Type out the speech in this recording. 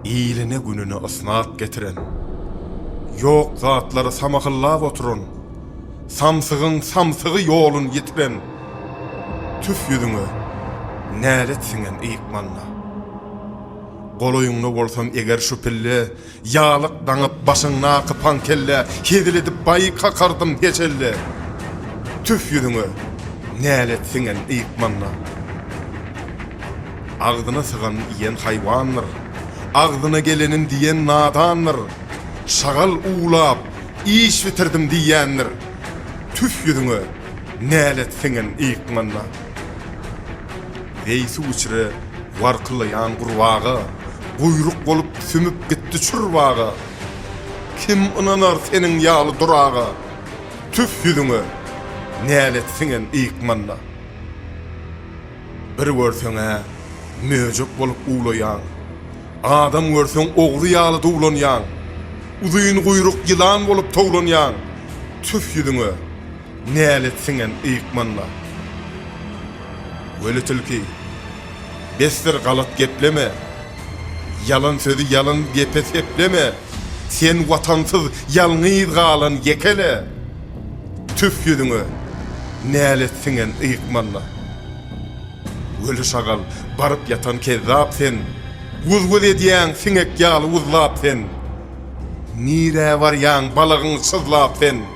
Iline-gününe ysnat getiren, ýok zatlary samahllap oturan, samsygyň samsygy ýolun ýitiren, tüf ýüzüňe, nälet siňen ykmalla. Golaýyňda bolsam eger şu pille Ýalyk daňyp başyňdaky pan kelle hezil edip baý kakardym hiç elle tüf ýüzüňe nälet siňen yýk manna agzyna sygan iýen haýwandyr agzyna gelenin diýen nadandyr şagal uwlap iş bitirdim diýýändir tüf ýüzüňe nälet siňen yýk manna. Heý suw-içre warkylaýan gurbaga, Guýruk bolup sümüp gitdi çurbaga. Kim ynanar seniň ýaly duraga, Tüf ýüzüňe, nälet siňen ykmanda. Bir görseň-ä möjek bolup uwlaýaň, Adam görseň ogry ýaly duwlanýaň. Uzyn guýruk ýylan bolup towlanýaň, Tüf ýüzüňe, Nälet siňen yykmanda. Weli tilki, Besdir galat gepleme. Ýalan sözi ýalan gepe sepleme. Sen watansyz ýalňyz galan ýekele. Tüf ýüzüňe, nälet siňen yykmanda. Weli şagal, baryp ýatan kezzap sen. Guz-guz edýäň siňek ýaly wuzlap sen. Nirä barýaň balagyň syzlap sen.